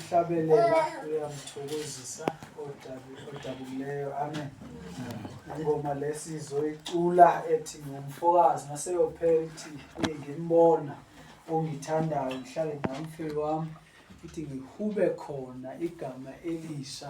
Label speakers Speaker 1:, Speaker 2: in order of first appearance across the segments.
Speaker 1: ukuhlabelela kuyamthokozisa odabukileyo amen ingoma lesi izoyicula ethi ngumfokazi naseyophela ithi ngimbona ongithandayo ngihlale namfeli wami ithi ngihube khona igama elisha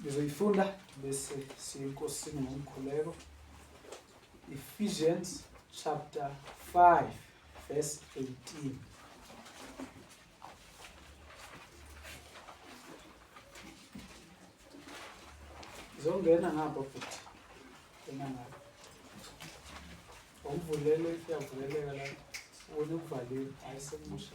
Speaker 1: ngizoyifunda bese siyinkosini ngomkhuleko Ephesians chapter 5 verse 18 zongena ngapha futhi ena ngapha umvulele kuyavuleleka la wena ukuvaliwe ayisemusha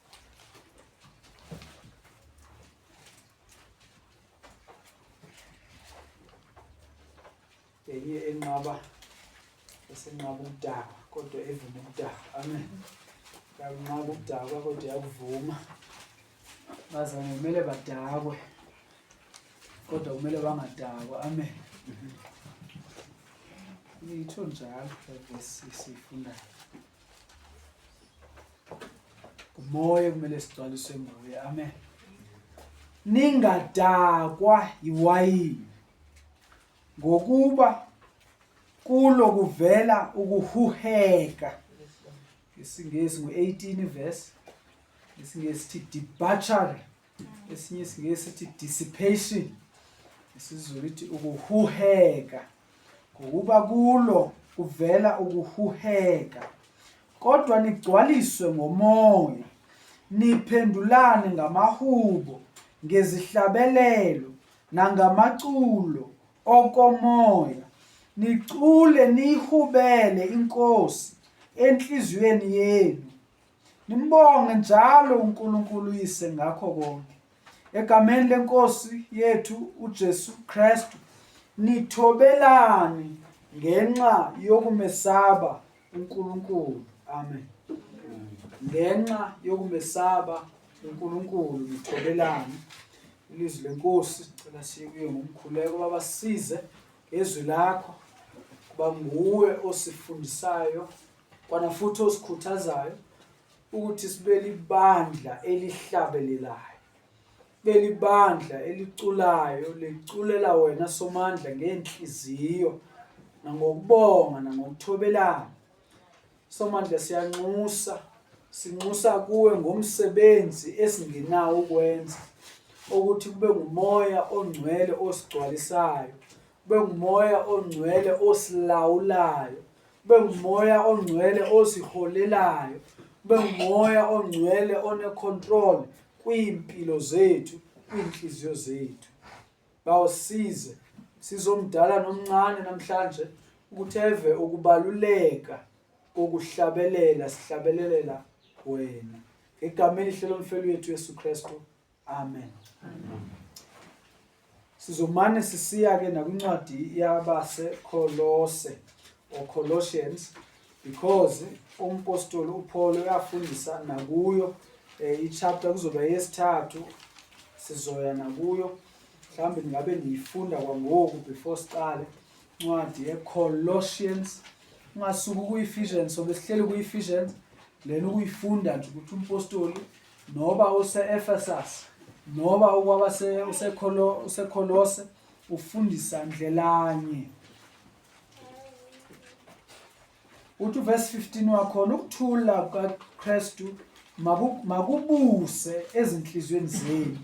Speaker 1: eyiye enqaba esenqaba ukudakwa kodwa evuma ukudakwa amen yakunqaba ukudakwa kodwa yakuvuma bazane kumele badakwe kodwa kumele bangadakwa amen yitho njalo levesi siyifundayo Moya kumele sigcwaliswe nguye. Amen. Ningadakwa yiwayini ngokuba kulo kuvela ukuhuheka. IsiNgisi ngu-18 verse. IsiNgisi sithi debauchery. esinye isingeke sithi dissipation isizulu ithi ukuhuheka ngokuba kulo kuvela ukuhuheka kodwa nigcwaliswe ngomoya niphendulane ngamahubo ngezihlabelelo nangamaculo okomoya nicule niyihubele inkosi enhliziyweni yenu Nimbonge njalo uNkulunkulu uYise ngakho konke. Egameni lenkosi yethu uJesu Kristu, nithobelani ngenxa yokumesaba uNkulunkulu. Amen. Ngenxa yokumesaba uNkulunkulu nithobelani. Ilizwi lenkosi cela sikuye ngomkhuleko babasize ngezwi lakho kuba nguwe osifundisayo Kwana futhi osikhuthazayo ukuthi sibelibandla elihlabelelayo. Belibandla eliculayo liculela wena somandla ngenhliziyo nangokubonga nangokuthobelana. Somandla siyanxusa sinxusa kuwe ngomsebenzi esingenawo ukwenza ukuthi kube ngumoya ongcwele osigcwalisayo kube ngumoya ongcwele osilawulayo kube ngumoya ongcwele osiholelayo kube ngumoya ongcwele onecontrol kwiimpilo zethu kwiintliziyo zethu bawusize sizomdala nomncane namhlanje ukuthi eve ukubaluleka kokuhlabelela sihlabelelela wena ngegama elihle lomfeli wethu Yesu Kristu Amen. Amen. Sizomane sisiya ke nakwincwadi yabase Kolose or Colossians because umpostoli uPaul uyafundisa nakuyo eh, ichapter kuzoba yesithathu sizoya nakuyo mhlawumbe ningabe niyifunda kwangoku before siqale incwadi ye-colossians ungasuki kuyi-ephesians sobe sihleli kuyi-ephesians lena ukuyifunda nje ukuthi umpostoli Noba use-Efesus, noba ukwaba se- useKholo- useKholose, ufundisa ndlelanye. Uthi uvesi 15 wakhona, ukuthula kukaKristu maku- makubuse ezinhliziyweni zenu.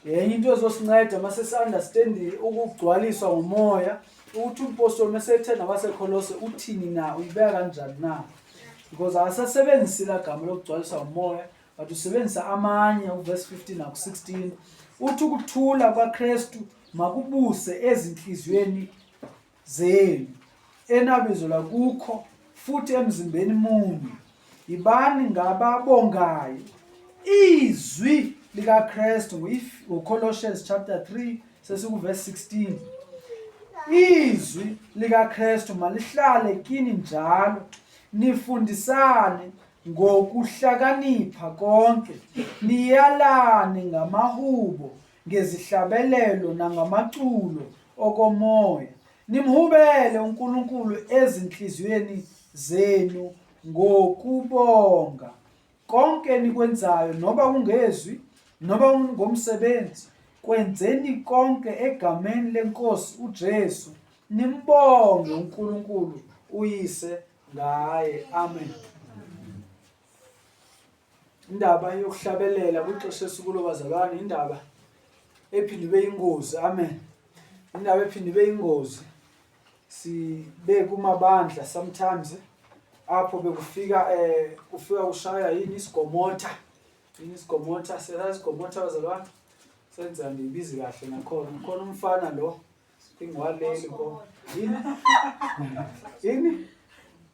Speaker 1: Enye into ezosinceda uma sesi-understandi ukugcwaliswa ngomoya, ukuthi umpostoli uma esethe nabaseKholose, uthini na, uyibeka kanjani na? because akasasebenzisi la gama lokugcwaliswa umoya but usebenzisa amanye uverse 15 naku 16 uthi ukuthula kwaKristu makubuse ezinhliziyweni zenu enabizo lakukho futhi emzimbeni munye yibani ngababongayo izwi likaKristu ngoColossians chapter 3 Sesikuvesi 16. Izwi likaKristu malihlale kini njalo nifundisane ngokuhlakanipha konke niyalane ngamahubo ngezihlabelelo nangamaculo okomoya nimhubele uNkulunkulu ezinhliziyweni zenu ngokubonga Konke enikwenzayo, noba kungezwi, noba kungomsebenzi, kwenzeni konke egameni leNkosi uJesu, nimbonge uNkulunkulu uYise ngaye. Amen. Indaba yokuhlabelela kwixesha esikulo bazalwane, indaba ephinde ibe yingozi. Amen. Indaba ephinde ibe yingozi. sibe kumabandla sometimes apho bekufika eh kufika ushaya yini isigomotha yini isigomotha selazi isigomotha bazalwane senza ngibizi kahle nakhona ukhona umfana lo ingwaleli ko yini yini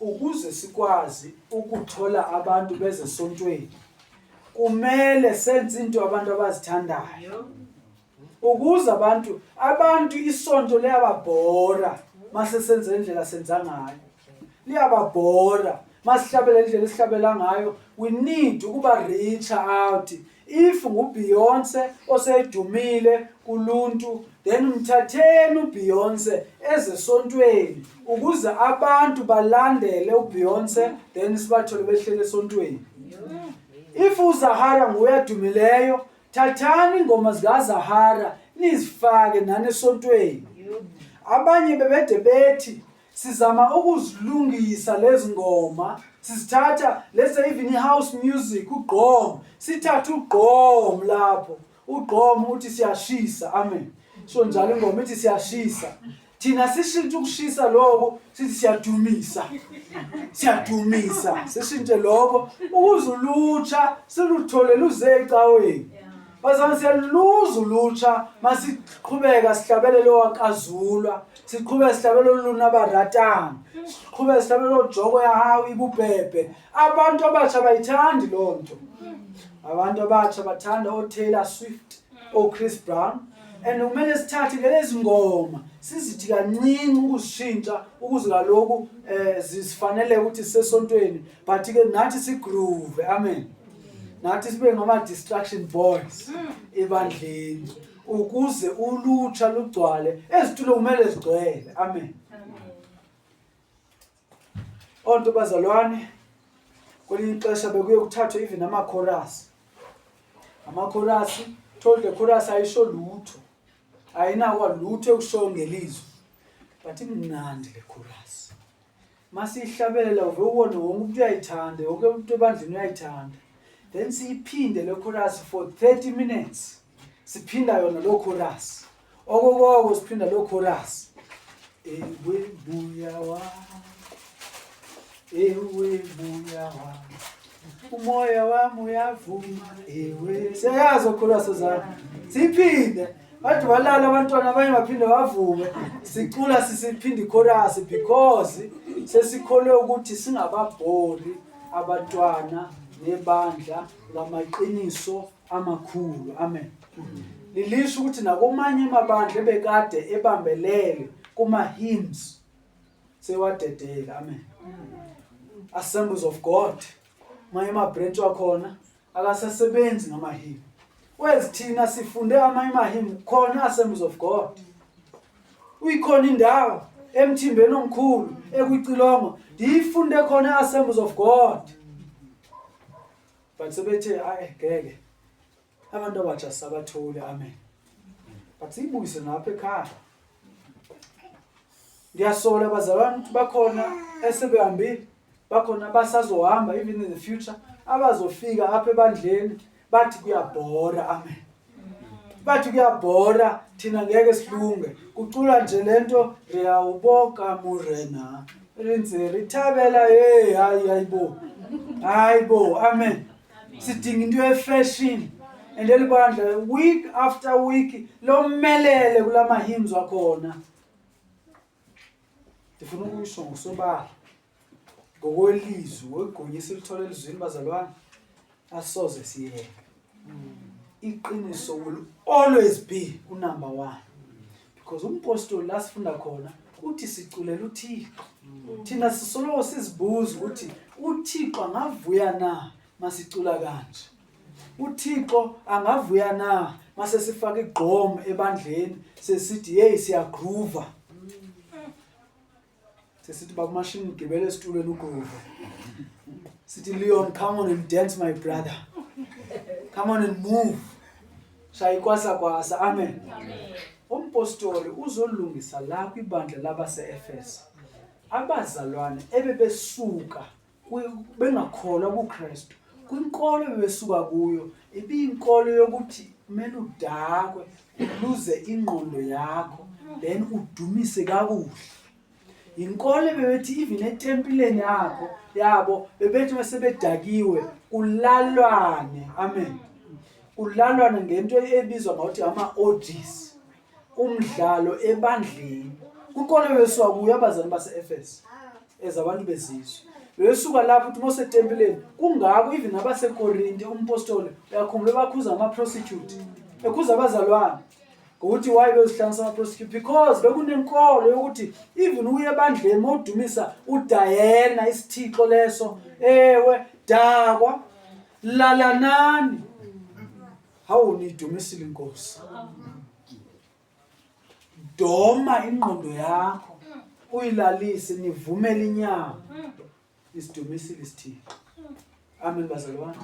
Speaker 1: Ukuze sikwazi ukuthola abantu bezesontweni kumele senze into abantu abazithandayo. Ukuze abantu abantu isonto liyababhora mase senze indlela senza ngayo. Liyababhora masihlabela indlela esihlabela ngayo we need ukuba reach out If ngu Beyonce osedumile kuluntu then mthatheni u Beyonce eze sontweni ukuze abantu balandele u Beyonce then sibathole behlele sontweni. If u Zahara nguye adumileyo thathani ingoma zika Zahara nizifake nani esontweni. Abanye bebede bethi sizama ukuzilungisa lezi ngoma sizithatha let's say even i-house music ugqom sithathe ugqom lapho ugqom uthi siyashisa amen so njalo ingoma ithi siyashisa thina sishintshe ukushisa lokho sithi siyadumisa siyadumisa sishintshe lokho ukuze ulutsha siluthole luze ecaweni bazana siyaluza ulutsha masiqhubeka sihlabelele owakazulwa siqhube sihlabela oluluna baratana siqhube sihlabela ojoko yahawu ibubhebhe abantu abasha bayithandi loo nto abantu abasha bathanda otaylor swift ochris brown and kumele sithathe ngelezi ngoma sizithi kancinci ukuzishintsha ukuze kaloku um eh, zisifanele ukuthi sisesontweni but-ke nathi sigroove amen nathi sibe ngama-distruction boys ebandleni mm. ukuze ulutsha lugcwale ezitulo kumele zigcwele amen onto bazalwane kwelinye ixesha bekuye kuthathwe even amakhorasi amakhorasi told the chorus ayisho lutho ayinakwa lutho ekusho ngelizwi but imnandi le chorus masiyihlabelela uve ubone wonke umuntu uyayithanda yonke umuntu ebandleni uyayithanda then siyiphinde le chorus for 30 minutes siphinda yona lo chorus okokoko siphinda lo chorus ewe buya wa ewe buya wa umoya wami uyavuma ewe siyayazi okhulwaso zami siphinde Bathi walala abantwana abanye baphinde bavuke sicula sisiphinde ichorus because sesikholwe ukuthi singababhori abantwana nebandla lamaqiniso amakhulu. Amen. Lilisho ukuthi nakomanye amabandla ebekade ebambelele kuma hymns sewadedela. Amen. Assemblies of God. Maye ma branch wakhona akasasebenzi ngamahimu kwezi thina sifunde amanye amahimu khona asembs of god uyikhona indawo emthimbeni omkhulu ekucilongo ndiyifunde khona asembs of god but sebethe ayi ngeke abantu abatsha sabatholi amen but siyibuyise ngapha ekhaya Ngiyasola bazalwane ukuthi bakhona esebehambile, bakhona abasazohamba even in the future abazofika apha ebandleni bathi kuyabhora amen. Bathi kuyabhora thina ngeke silunge. Kucula nje lento riyawuboka murena. Rinze rithabela hey hayi hayibo. Hayibo amen. Sidinga into ye fashion. And lelibandla week after week lomelele kulama hymns wakhona. ndifuna ukuyisho ngosobala ngokwelizwi ngoligunya esilithola elizwini bazalwane asoze siyeke iqiniso will always be unumber one because umpostoli la sifunda khona uthi siculela uthixo thina sisoloko sizibuza ukuthi uthixo angavuya na masicula kanje uThixo angavuya na mase sifaka igqom ebandleni sesithi hey siyagroova sesithi bakumashini ugibele esitulweni ugroova sithi Leon come on and dance my brother come on and move shaya ikwasa kwasa amen umpostoli uzolungisa la kwibandla labaseEfeso abazalwane ebebesuka bengakholwa kuKristu kwinkolo bebesuka kuyo ibiyinkolo yokuthi kumele udakwe uluze ingqondo yakho then udumise kakuhle yinkolo bebethi even etempileni yakho yabo bebethi bese bedakiwe kulalwane amen kulalwane ngento ebizwa ngokuthi ama-odis umdlalo ebandleni kukhona wesuka kuyo abazali base-efesu as abantu bezizwe wesuka lapho ukuthi mosetempileni kungako even abasekorinte umpostoli uyakhumbula bakhuza ama-prostitute ekhuza abazalwane ngokuthi waye bezihlanganisa ama-prostitute because bekunenkolo yokuthi even uye ebandleni mowudumisa udayena isithixo leso ewe dakwa lalanani Hawu niyidumisile inkosi. Doma ingqondo yakho uyilalise nivumele inyama. Isidumisile isithixo. Amen bazalwane.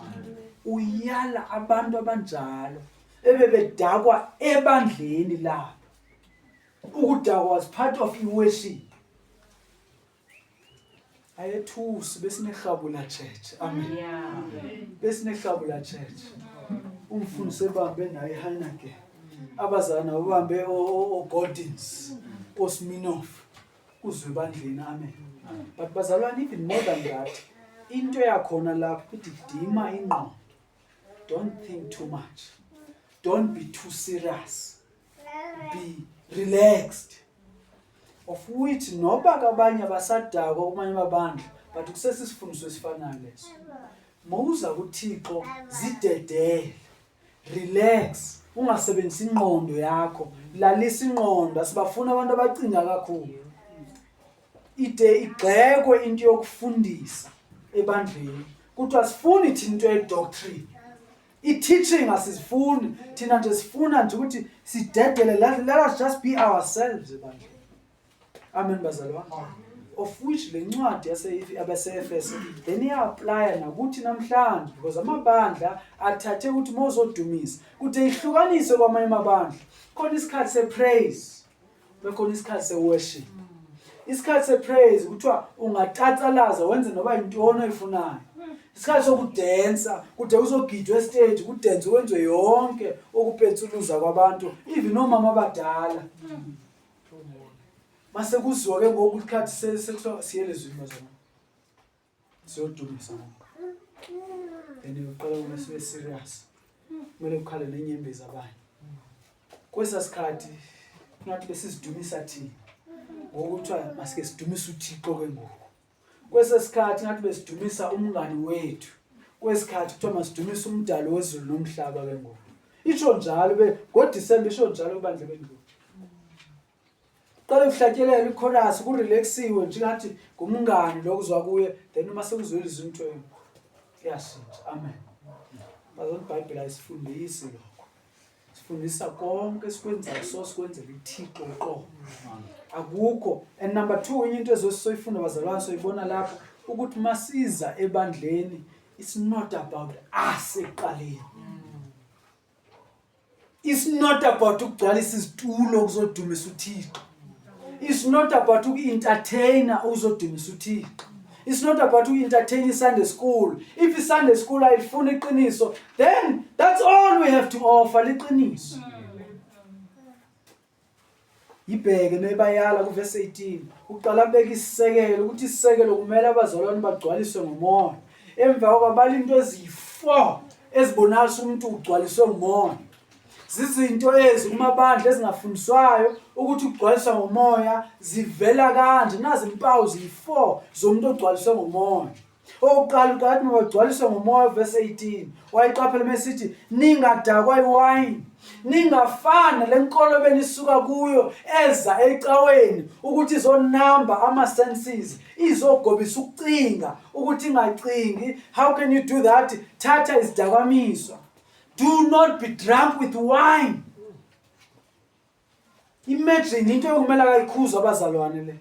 Speaker 1: Uyala abantu abanjalo ebebedakwa ebandleni labo. Ukudakwa was part of i-worship. ayethusi besinehlabula church amen besinehlabula church umfundi sebambe naye Heineken abazana ubambe oGordons oSminoff kuzwe bandleni amen but bazalwane even more than that into yakhona lapho ukuthi dima ingqondo don't think too much don't be too serious be relaxed of which noba kabanye abasadakwa kumanye amabandla but kusesisifundiso esifanayo leso mawuza kuthixo zidedele relax ungasebenzisi ingqondo yakho lalisa ingqondo asibafuna abantu abacinga kakhulu ide igxekwe into yokufundisa ebandleni kuthiwa sifuni thina into yedoctrine I-teaching asizifuni thina nje sifuna nje ukuthi sidedele let, let us just be ourselves ebandla amen bazalwane of which le ncwadi yaseabase-efeso then iya-aplya nakuthi namhlanje because amabandla athathe ukuthi uma uzodumisa kude ihlukaniswe kwamanye amabandla khona isikhathi se-praise bekhona isikhathi seworship isikhathi sepraise kuthiwa ungatatsalaza wenze noba yintoni oyifunayo isikhathi sokudensa kude uzogidwa estage kudense kwenziwe yonke ukupetsuluza kwabantu even omama abadala mase kuziwa ke ngoku isikhathi siyelezwini bazona siyodumisa ngoba and uqala uma sibe serious kumele kukhale nenyembezi abanye kwesa sikhathi ngathi besizidumisa thina ngokuthiwa masike sidumisa uthixo ke ngoku kwesa sikhathi ngathi besidumisa umngani wethu kwesikhathi kuthiwa masidumisa umdali wezulu nomhlaba ke ngoku isho njalo be ngodisemba isho njalo kubandla bendlu Qale kuhlatyelele ichorus kurelaxiwe nje ngathi ngumngani lokuzwa kuye then uma sekuzwela izinto kuyashintsha amen bazona ibhayibheli ayisifundisi lokho sifundisa konke esikwenzayo so sikwenzela ithixo qo akukho and number two enye into ezosisoyifunda bazalwane soyibona lapho ukuthi masiza ebandleni it's not about us ekuqaleni It's not about ukugcwalisa izitulo kuzodumisa uThixo. It's not about uku-entertainer okuzodumisa uThixo. It's not about uku-entertain i-Sunday school. If i-Sunday school ayifuni iqiniso, then that's all we have to offer liqiniso. Yibheke noyibayala kuvesi 18. Uqala abeka isisekelo ukuthi isisekelo kumele abazalwane bagcwaliswe ngomoya. Emva koko abala into eziyi-four ezibonakalisa umuntu ugcwaliswe ngumoya. Zizinto ezi kumabandla ezingafundiswayo ukuthi ukugcwaliswa ngomoya zivela kanje. Nazi impawu ziyi-four zomuntu ogcwaliswe ngomoya. Okokuqala uKatni wagcwaliswa ngomoya verse 18 wayiqaphela mesithi ningadakwa iwayini ningafana lenkolo benisuka kuyo eza ecaweni ukuthi izonamba ama senses izogobisa ukucinga ukuthi ingacingi how can you do that thatha izidakwamiswa do not be drunk with wine Imagine into ekumele akayikhuza abazalwane le.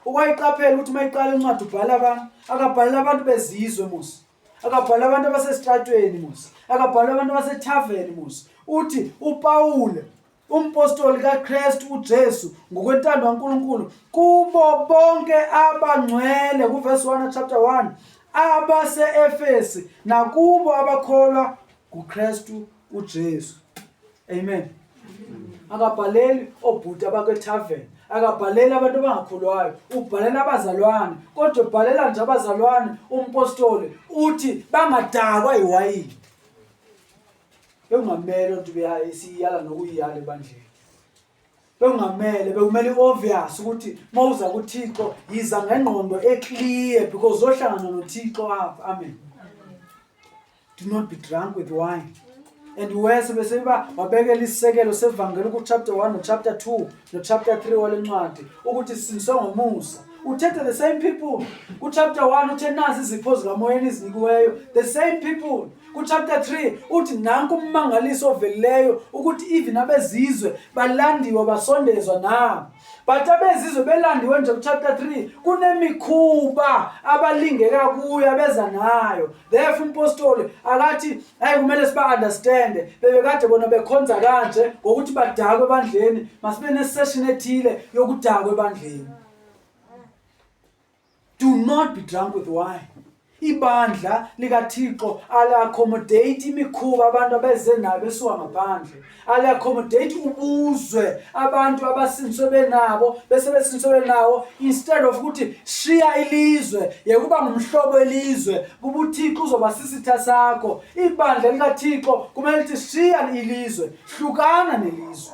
Speaker 1: Ukwayiqaphela ukuthi mayiqala incwadi ubhala abantu, akabhalela abantu bezizwe musa. Akabhala abantu abasesitratweni musa. Akabhala abantu abasethavern musa. Uthi uPawule umpostoli kaKristu uJesu ngokwentando kaNkuluNkulu kubo bonke abangcwele kuverse 1 chapter 1 abaseEfesi nakubo abakholwa kuKristu uJesu. Amen. Akabhaleli obhuti abakweTavern, akabhaleli abantu abangakholwayo, ubhalela abazalwane. Kodwa ubhalela nje abazalwane umpostoli uthi bangadakwa iwayini. Bekungamele ukuthi beyayisiyala nokuyiyala ebandleni. bekungamele bekumele i-obvious ukuthi uma uza kuthixo yiza ngengqondo eclear because uzohlangana nothixo apha amen do not be drunk with wine and worse bese uba wabekela isisekelo sevangeli kuchapter 1 nochapter 2 nochapter 3 wale ncwadi ukuthi sinswe ngomusa uthethe the same people kuchapter 1 uthe nazi izipho zikamoyeni ezinikiweyo the same people Kuchapter 3 uthi nanku ummangaliso ovelileyo ukuthi even abezizwe balandiwe basondezwa na. But abezizwe belandiwe nje kuchapter 3 kunemikhuba abalingeka kuyo abeza nayo. Therefore umpostoli akathi hayi kumele siba understand bebekade bona bekhonza kanje ngokuthi badakwe ebandleni masibe ne session ethile yokudakwa ebandleni. Do not be drunk with wine. Ibandla likaThixo aliaccommodate imikhuba abantu abeze nayo besuka ngaphandle. Aliaccommodate ubuzwe abantu abasinswe benabo bese besinswe benawo instead of ukuthi shiya ilizwe yekuba ngumhlobo elizwe kuba uThixo uzoba sisitha sakho. Ibandla likaThixo kumele lithi shiya ilizwe, hlukana nelizwe.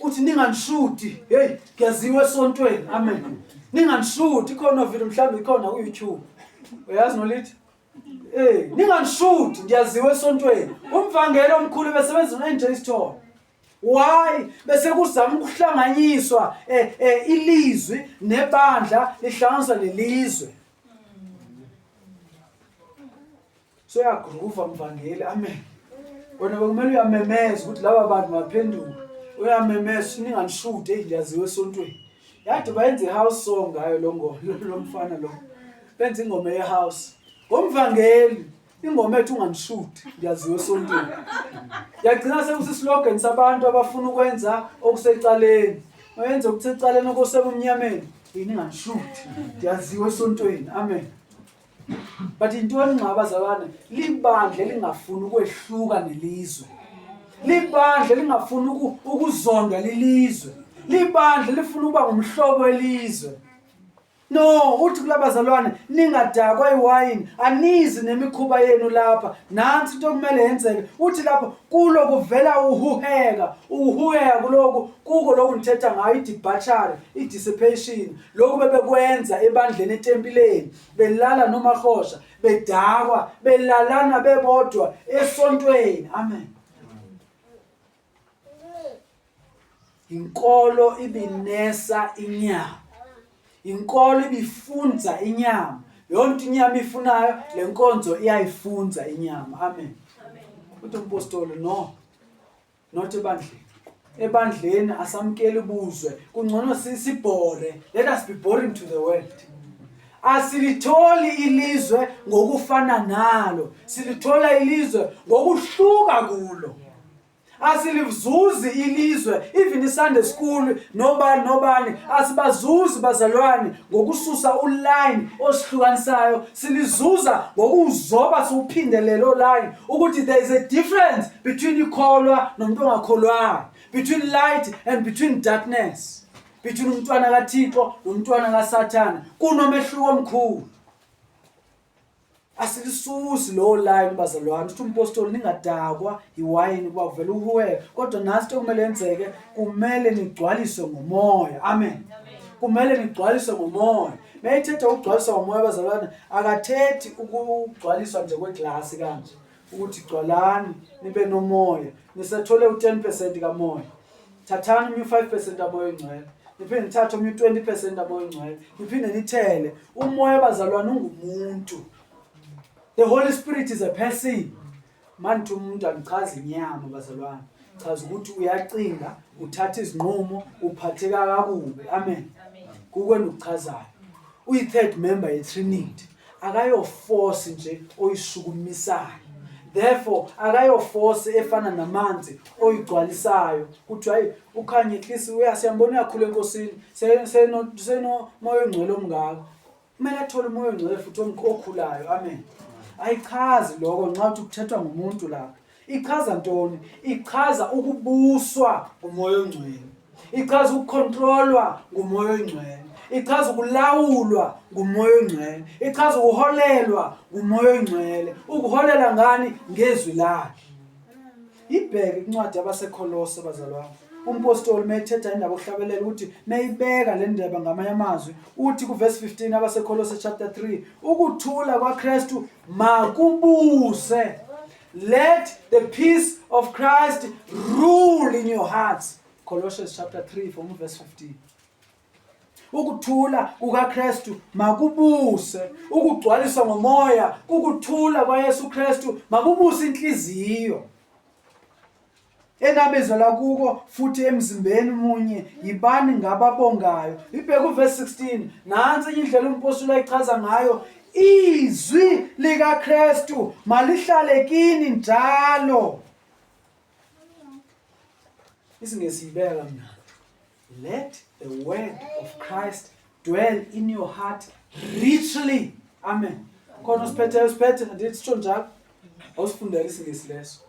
Speaker 1: uthi ninganishudi hey kuyaziwa esontweni amen ninganishudi khona video mhlawumbe ikhona ku YouTube uyazi nolithi eh ninganishudi ndiyaziwa esontweni umvangelo omkhulu besebenza no NJ Store why bese kuzama ukuhlanganyiswa eh, eh, ilizwi nebandla lihlanganiswa lelizwe Soyaguruva mvangeli amen. Wena bekumele uyamemeza ukuthi laba bantu baphenduka. Uyamemeza sininganishude engiyaziwe esontweni. Yade bayenza ihouse song ngayo lo ngoma lo mfana lo. Benza ingoma yehouse. Ngomvangeli ingoma ethu unganishude ngiyaziwe esontweni. Yagcina sekusislogan sabantu abafuna ukwenza okusecaleni. Mayenze okusecaleni okosebumnyameni. Yini ngangishude. Ngiyaziwe esontweni. Amen. but intoni nxa abazalwane libandla elingafuni ukwehluka nelizwe libandla elingafuni ukuzondwa lilizwe libandla lifuna ukuba ngumhlobo welizwe no uthi kulabazalwane ningadakwa iwayini anizi nemikhuba yenu lapha nansi into okumele yenzeke uthi lapha kulo kuvela uhuheka uhuheka kuloku kuko loku nithetha ngayo idebachary idissipation lokhu bebekwenza ebandleni etempileni belala nomahosha bedakwa belalana bebodwa esontweni amen inkolo ibinesa inyama inkolo ibifunza inyama yonke inyama ifunayo lenkonzo iyayifunza inyama amen uthi umpostoli no not ebandleni ebandleni asamkeli buzwe kungcono sibhore let us be boring to the world asilitholi ilizwe ngokufana nalo silithola ilizwe ngokuhluka kulo asilizuzi ilizwe even isunday school nobani nobani asibazuzi bazalwane ngokususa uline osihlukanisayo silizuza ngokuzoba siwuphinde lelo line ukuthi there is a difference between ikholwa nomuntu ongakholwayo between light and between darkness between umntwana kathixo nomntwana kasathane kunomehluko omkhulu asilisusi lowo line bazalwane ukuthi umpostoli ningadakwa yiwayini kuba kuvela uhuwe kodwa nasi into kumele yenzeke kumele nigcwaliswe ngomoya amen, amen. kumele nigcwaliswe ngomoya Mayethetha ukugcwaliswa umoya abazalwane akathethi ukugcwaliswa nje kweglasi kanje ukuthi gcwalani nibe nomoya nisethole u10% kamoya thathani umu 5% aboyo ngcwele niphinde nithathe omunye 20% aboyo ngcwele niphinde nithele umoya abazalwane ungumuntu the holy spirit is a person Manithe umuntu angichazi inyama bazalwane. Chaza ukuthi uyacinga, uthatha izinqumo, uphatheka kakubi. Amen. Kukwena ukuchazayo. Uyi third member ye Trinity. Akayo force nje oyishukumisayo. Therefore akayo force efana namanzi oyigcwalisayo. Kuthi hayi ukhanye at least uyasiyambona uyakhula enkosini. Seno seno moyo ngcwele omngaka. kumele athole umoya ongcwele futhi omqo okhulayo amen ayichazi lokho nxa uthi kuthethwa ngumuntu lapho ichaza ntoni ichaza ukubuswa ngumoya ongcwele ichaza ukukhontrolwa ngumoya ongcwele ichaza ukulawulwa ngumoya ongcwele ichaza ukuholelwa ngumoya ongcwele ukuholela ngani ngezwi lakhe Ibheke incwadi yabaseKholose bazalwane. Umpostoli methetha indaba okuhlabelela ukuthi meyibeka le ndaba ngamanye amazwi uthi kuverse 15 abaseKholose chapter 3 ukuthula kwaKristu makubuse let the peace of Christ rule in your hearts Colossians chapter 3 from verse 15 ukuthula kukaKristu makubuse ukugcwaliswa ngomoya ukuthula kwaYesu Kristu makubuse inhliziyo enabezela kuko futhi emzimbeni munye yibani ngababongayo ibheke uverse 16 nansi enye indlela umpostoli ayichaza ngayo izwi likaKristu malihlale kini njalo isingezibeka mina Let the word of Christ dwell in your heart richly. Amen. Khona usiphethe usiphethe ndithi sitsho njalo. Awusifundela isingisi leso.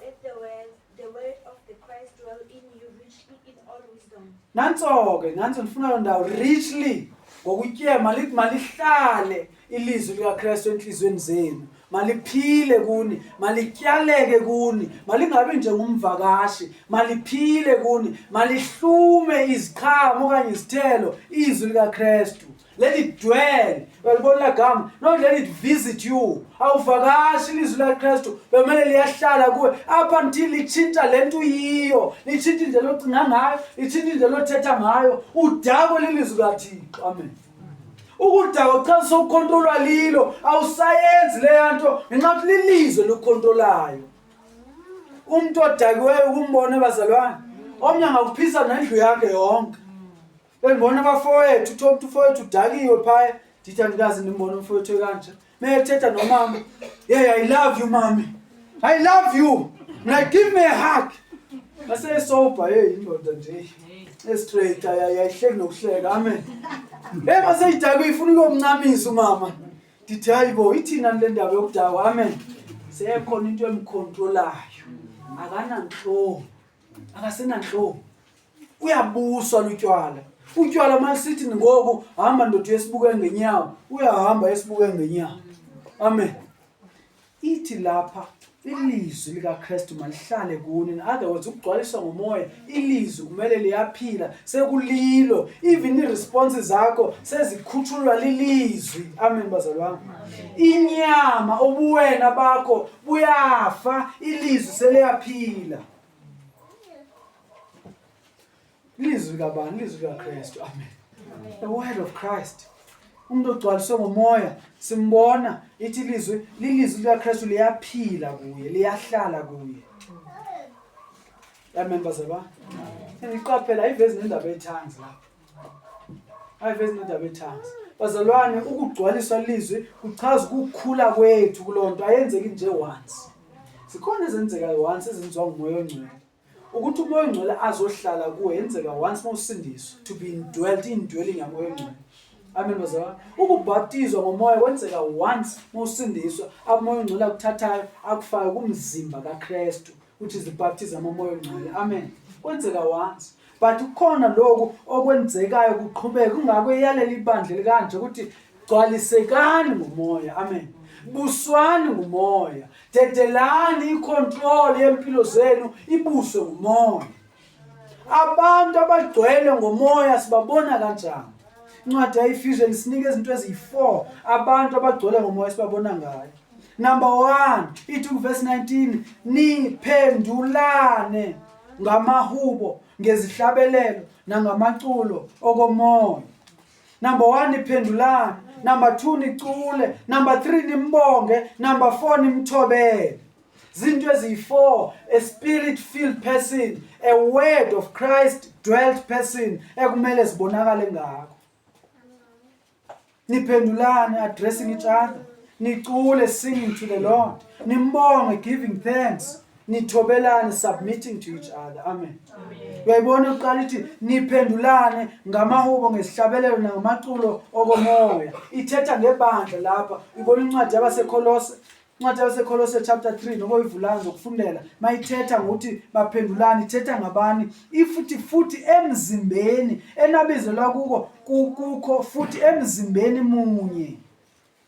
Speaker 1: Let the word
Speaker 2: the word of the Christ dwell in you richly in all wisdom. Nanso ke, nanso
Speaker 1: ndifuna lo ndawo richly ngokutyema lithi malihlale Ilizwi likaKristu enhliziyweni zenu maliphile kuni, malityaleke kuni, malingabi njengomvakashi, maliphile kuni, malihlume iziqhamo okanye izithelo izwi likaKristu. Let it dwell. Uyalibona lagama. No let it visit you. Awuvakashi ilizwi likaKristu bekumele liyahlala kuwe up until litshintsha le nto uyiyo, litshintsha indlela ocinga ngayo, litshintsha indlela othetha ngayo, udakwe lilizwi likaThixo. Amen. Ukudakwa kuchaza sokukhontrolwa lilo, awusayenzi leya nto ngenxa yokuthi lilizwe lokukhontrolayo. Umuntu odakiweyo ukumbona bazalwane, omnye angakuphisa nendlu yakhe yonke. Bengibona abafowethu, uthola ukuthi ufowethu udakiwe phaya, ndithi andikazi ndimbona umfowethu ekanje. Meyethetha nomama. Yeah, I love you mami. I love you. Mna give me a hug. Mase sober hey indoda nje. Estraight ayayihleki nokuhleka. Amen. Hey mase idakwe ifuna ukumncamisa umama. Ndithi hayibo ithina le ndaba yokudakwa. Amen. Sekhona into emcontrolayo. Akananhloko. Akasenanhloko. uyabuswa lutywala utywala masithi ngoku hamba ndoda uyesibuke ngenyawo uyahamba esibuke ngenyawo amen ithi lapha ilizwi likaKristu malihlale kuni in other words ukugcwaliswa ngomoya ilizwi kumele liyaphila sekulilo even iresponse zakho sezikhutshulwa lilizwi amen bazalwane inyama ubuwena bakho buyafa ilizwi seliyaphila Lizwi kabani? Lizwi likaKristu. Amen. The word of Christ. Umuntu ogcwaliswe ngomoya simbona ithi lizwi lilizwi likaKristu liyaphila kuye, liyahlala kuye. Amen bazalwa. Ngiqaphela ivezi nendaba ethanzi la. Ayivezi nendaba ethanzi. Bazalwane ukugcwaliswa lizwi kuchaza ukukhula kwethu kulonto ayenzeki nje once. Sikhona ezenzekayo once ezenziwa ngumoya ongcwele. Ukuthi umoya ongcwele azohlala kuwe yenzeka once uma usindiswa to be indwelt indwelling yamoya ongcwele. Amen bazalwane. Ukubhaptizwa ngomoya kwenzeka once uma usindiswa amoya ongcwele akuthathayo akufake kumzimba kaKristu which is the baptism omoya ongcwele. Amen. Kwenzeka once. but kukhona lokhu okwenzekayo kuqhubeke kungakho eyalela ibandla likanje ukuthi gcwalisekani ngomoya amen buswani ngumoya dedelani icontrol yempilo zenu ibuswe ngumoya abantu abagcwele ngomoya sibabona kanjani incwadi yayifusion isinika izinto eziyi-four abantu abagcwele ngomoya sibabona ngayo number one ithi kuvesi 19 niphendulane ngamahubo ngezihlabelelo nangamaculo okomoya number one iphendulani number two nicule number three nimbonge number four nimthobele zinto eziyi-four a spirit filled person a word of christ dwelt person ekumele zibonakale ngakho niphendulane addressing each other nicule singing to the lord nimbonge giving thanks nithobelane submitting to each other amen uyayibona uqala ithi niphendulane ngamahubo ngesihlabelelo nangamaculo okomoya ithetha ngebandla lapha ibona incwadi yabasekolose Incwadi yaseKolose chapter 3 noma uyivulayo zokufundela mayithetha ngokuthi baphendulani ithetha ngabani ifuthi futhi emzimbeni enabizelwa kuko kukho futhi emzimbeni munye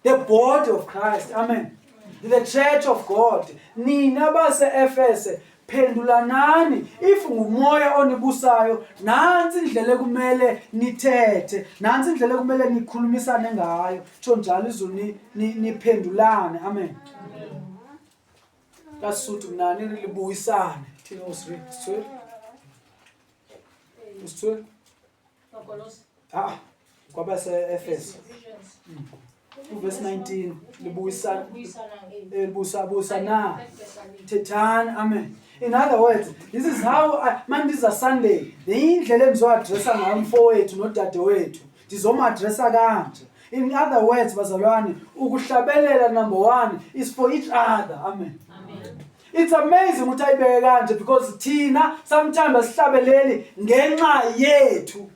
Speaker 1: the body of Christ amen the church of God nina base Efese phendulanani if ngumoya onibusayo nansi indlela ekumele nithethe nansi indlela ekumele nikhulumisane ngayo tsho njalo izulu niphendulane amen kasuthu kunani libuyisane thina usri sithwe usithwe Makolosi. Ah, kwabaseEfesu Ephesians. uvesi 19 libuyisa Ukubuyisana nge- eh, libusa busa na Ephesians. thethani amen in other words this is how I- manje iza sunday leyindlela engizoadressa ngayo umfowethu nodadewethu ndizomadressa kanje in other words bazalwane ukuhlabelela number one is for each other amen Amen. It's amazing ukuthi ayibeke kanje because thina sometimes asihlabeleli ngenxa yethu.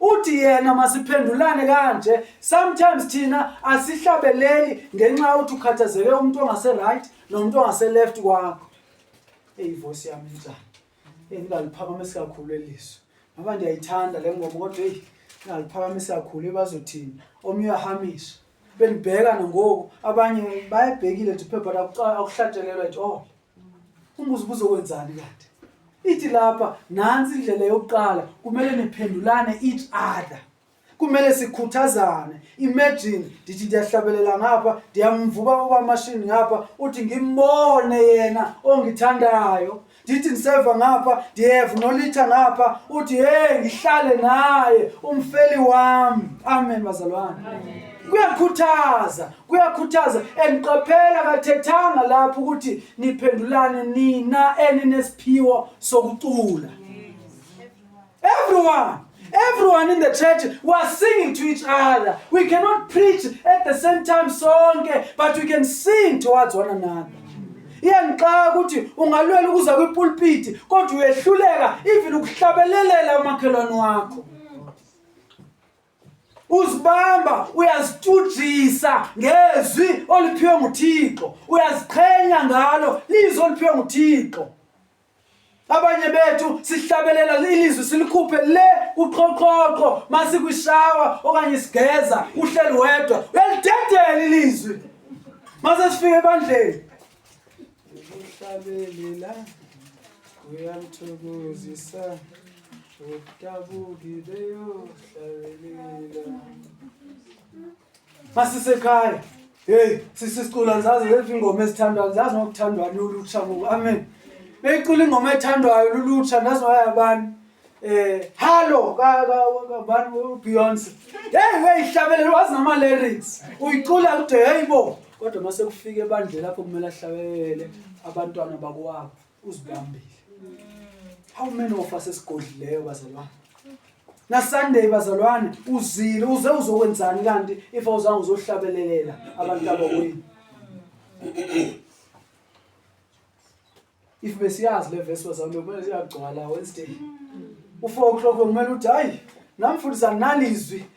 Speaker 1: Uthi yena masiphendulane kanje sometimes thina asihlabeleli ngenxa yokuthi ukhathazeke umuntu ongase right nomuntu ongase left kwakho. Hey voice yami njani? Ngingaliphakamisi kakhulu eliso ngoba ndiyayithanda le ngoma kodwa eyi ngingaliphakamisi kakhulu ibazothini omnye uyahamisha benibheka nangoku abanye bayebhekile thi phepha akuhlatshelelwa ithi oh umbuzo ubuzokwenzani kanti ithi lapha nansi indlela yokuqala kumele niphendulane each other kumele sikhuthazane imagine ndithi ndiyahlabelela ngapha ndiyamvuba ubamashini ngapha uthi ngimbone yena ongithandayo ndithi ndiseva ngapha ndiyeva nolitha ngapha uthi hey ngihlale naye umfeli wami amen bazalwane kuyakhuthaza kuyakhuthaza and qaphela kathethanga lapho ukuthi niphendulane nina eninesiphiwo sokucula mm. Everyone, everyone in the church was singing to each other. We cannot preach at the same time sonke, but we can sing towards one another. iyangixaka ukuthi ungalwela ukuza kwipulpiti kodwa uyehluleka even ukuhlabelelela umakhelwane wakho uzibamba uyazitshujisa ngezwi oliphiwe nguthixo uyaziqhenya ngalo lizwi oliphiwe nguthixo abanye bethu sihlabelela ilizwi silikhuphe le kuqhoqhoqho masikwishawa okanye sigeza uhleli wedwa uyalidedela ilizwi mase sifike ebandleni ukuhlabelela uyamthokozisa udabuki beyohlabelela Masisekhaya. Hey, sisi sicula ngizazi lezi ingoma ezithandwayo, ngizazi ngokuthandwa lulutsha ngoku. Amen. Beyicula ingoma ethandwayo lulutsha nazi wayabani. Eh, hallo ka ka ka- bani uBeyonce. Hey, weyihlabelela wazi nama lyrics. Uyicula kude hey bo. Kodwa mase kufika ebandle lapho kumele ahlabele abantwana bakwabo. uzibambile how many of us esigodlileyo bazalwane nasunday bazalwane uzile uze uzokwenzani kanti if awuzange uzohlabelelela abantu abakwenu if besiyazi le vesi bazalwane kumele siyagcwala wednesday u-four o'clock bekumele uthi hayi nam futhi sanginalizwi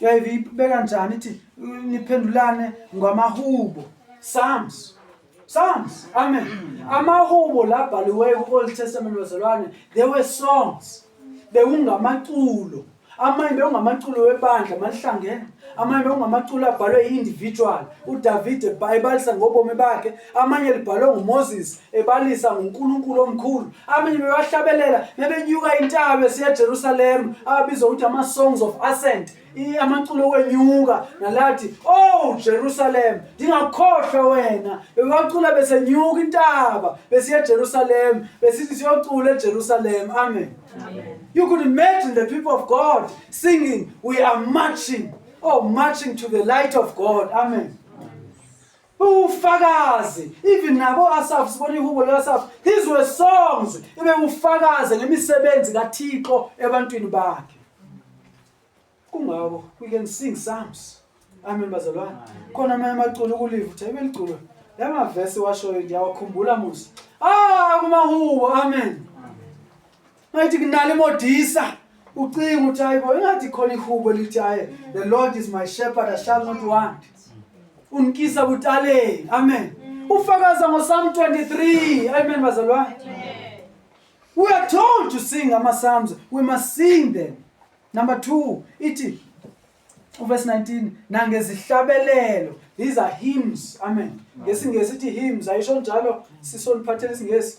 Speaker 1: Yayive ibeka njani ithi niphendulane ngamahubo. Psalms. Psalms. Amen. Amahubo labhaliweyo ku-Old Testament bazalwane, they were songs. Bekungamaculo. Amanye bekungamaculo webandla malihlangene. Amanye bekungamaculo abhalwe i-individual. UDavide ebalisa ngobomi bakhe amanye libhalwe nguMoses ebalisa ngoNkulunkulu omkhulu amanye bebahlabelela bebenyuka intaba esiya eJerusalem ababizwa ukuthi ama songs of ascent amaculo okwenyuka nalathi oh Jerusalem ndingakhohlwa wena bebacula besenyuka intaba besiya eJerusalem besithi siyocula eJerusalem amen you could imagine the people of God singing we are marching oh marching to the light of God amen Ufakazi even nabo Asaf sibona ihubo likaSaf his were songs ibe ufakaze ngemisebenzi kaThixo ebantwini bakhe kungako we can sing psalms amen bazalwane khona amanye amaculo kulive uthe beliculo lama verse washoyo ngiyawakhumbula musa ah kumahubo amen ngathi kunale modisa ucinga ukuthi hayi bo engathi khona ihubo lithi hayi the lord is my shepherd i shall not want unikisa kutaleni amen ufakaza ngosalm 23 amen bazalwane we are told to sing ama-psalms we must sing them number two ithi uverse 19 nangezihlabelelo these are hymns amen ngesingesi ithi hymns ayisho njalo sisoniphathela isingesi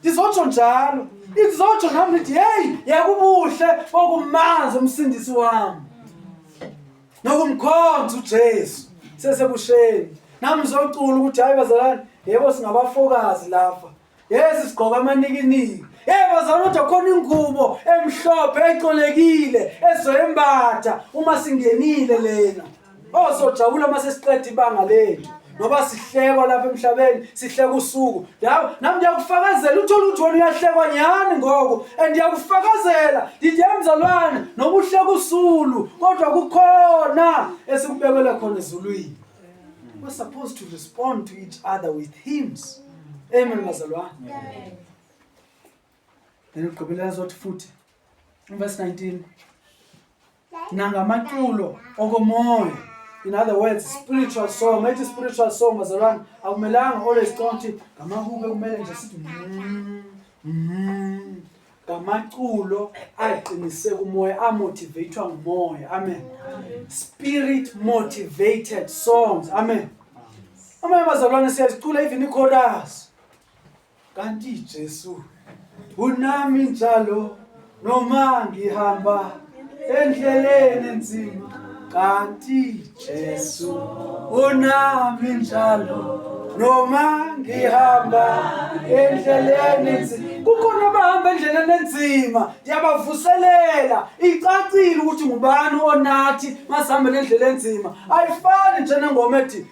Speaker 1: Ndizotsho njalo. Ndizotsho nami ndithi hey, yakubuhle okumanzi umsindisi wami. Nokumkhonza uJesu sesebusheni. Nami ngizocula ukuthi hayi bazalwane, yebo singabafokazi lapha. Yesi sigqoka amanikiniki. Hey bazalwane kodwa khona ingubo emhlophe ecolekile ezoyembatha uma singenile lena. Oh sojabula uma sesiqeda ibanga lethu. Ngoba sihlekwa lapha emhlabeni, sihleka usuku. Yabo, nami ngiyakufakazela uthola ukuthi wena uyahlekwa nyani ngoku and ngiyakufakazela ngithi emzalwane noma uhleka usulu kodwa kukhona esikubekele khona ezulwini. We're supposed to respond to each other with hymns. Amen bazalwane. Amen. Then ugqibela zothi futhi. Verse 19 nangamaculo okomoya in other words spiritual song ethi spiritual song bazalwane akumelanga always cicanga ukuthi ngamahube kumele nje sithi mm, mm. ngamaculo aqiniseka umoya amotivatwa ngumoya amen spirit motivated songs amen amanye bazalwane siyazicula even ichorus Kanti Jesu unami njalo noma ngihamba endleleni enzima kanti Jesu unami njalo noma ngihamba endleleni enzima kukhona abahamba endleleni enzima ndiyabavuselela icacile ukuthi ngubani onathi masihambele endlela enzima ayifani njenengoma ethi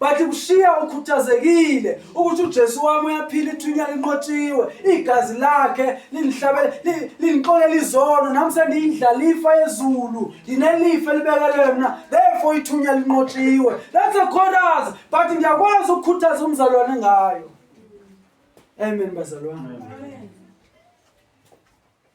Speaker 1: But kushiya ukhuthazekile ukuthi uJesu wami uyaphila ithunya linqotshiwe igazi lakhe linihlabele linixolela izono nami sendiyindlalifa yezulu nginelifa elibekelwe mna therefore ithunya linqotshiwe that's a chorus but ngiyakwazi ukukhuthaza umzalwane ngayo amen bazalwane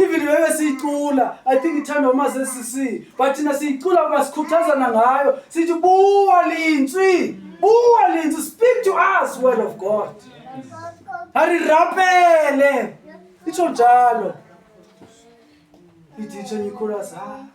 Speaker 1: even bebe siyicula i think ithandwa umascc but thina siyicula kuba sikhuthazana ngayo sithi buwa lintswi buwa lintswi speak to us word of god arirapele itsho njalo ithi itsho nyikhulasa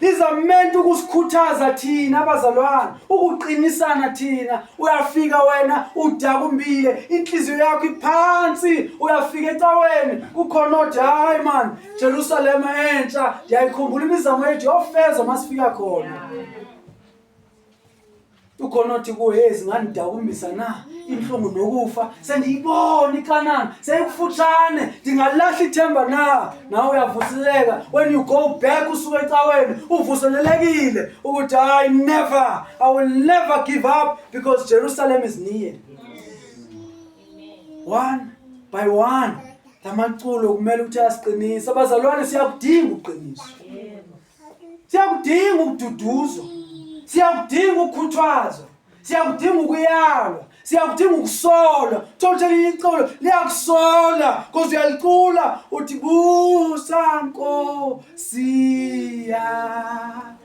Speaker 1: These are meant ukusikhuthaza thina abazalwane, ukuqinisana thina. Uyafika wena udaka umbile, inhliziyo yakho iphansi, uyafika ecaweni kukhona othi hayi man, Jerusalem entsha, ndiyayikhumbula imizamo yethu yofeza masifika khona. ukhona othi kuwe hey zingangidakumbisa na inhlungu nokufa sendiyibona ikanana seyikufutshane ndingalahla ithemba na nawe uyavuseleka when you go back usuke ecaweni uvuselelekile ukuthi i never i will never give up because jerusalem is near one by one la maculo kumele ukuthi asiqinise abazalwane siyakudinga ukuqiniswa siyakudinga ukududuzwa siyakudinga ukukhuthazwa siyakudinga ukuyalwa siyakudinga ukusola thothelinye icolo liyakusola koze uyalicula uthi busa nkosi yami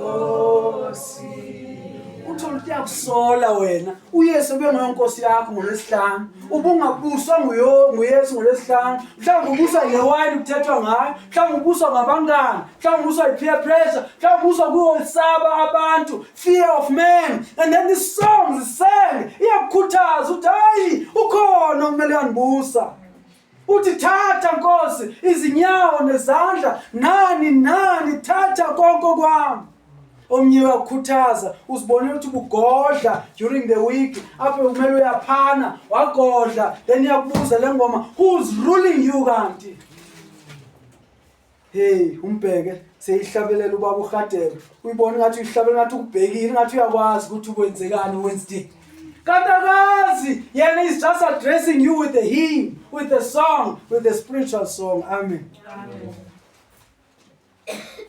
Speaker 1: uyinkosi uthole ukuthi uyakusola wena uyesu ubengeyonkosi yakho ngolwesihlanu ubungabuswa nguyo- nguyesu ngolwesihlanu mhlawumbe ubuswa ngewayini kuthethwa ngayo mhlawumbe ubuswa ngabangani mhlawumbe ubuswa yi-peer pressure mhlawumbe ubuswa kuwesaba abantu fear of man and then this song zisenge iyakukhuthaza ukuthi hayi ukhona okumele uyandibusa Uthi thatha Nkosi izinyawo nezandla nani nani thatha konke kwami. Omnye wakukhuthaza uzibone ukuthi bugodla during the week apho kumele uyaphana wagodla then iyakubuza le ngoma who's ruling you kanti Hey umbheke seyihlabelela ubaba uHadebe. Uyibona ngathi uyihlabela ngathi ukubhekile ngathi uyakwazi ukuthi ukwenzekani Wednesday. Katakazi yena is just addressing you with the hymn, with the song, with the spiritual song. Amen. Amen.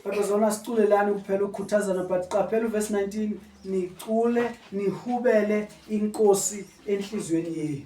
Speaker 1: Baba zona siculelani kuphela ukukhuthazana but qaphela uverse 19 nicule nihubele inkosi enhlizweni yenu.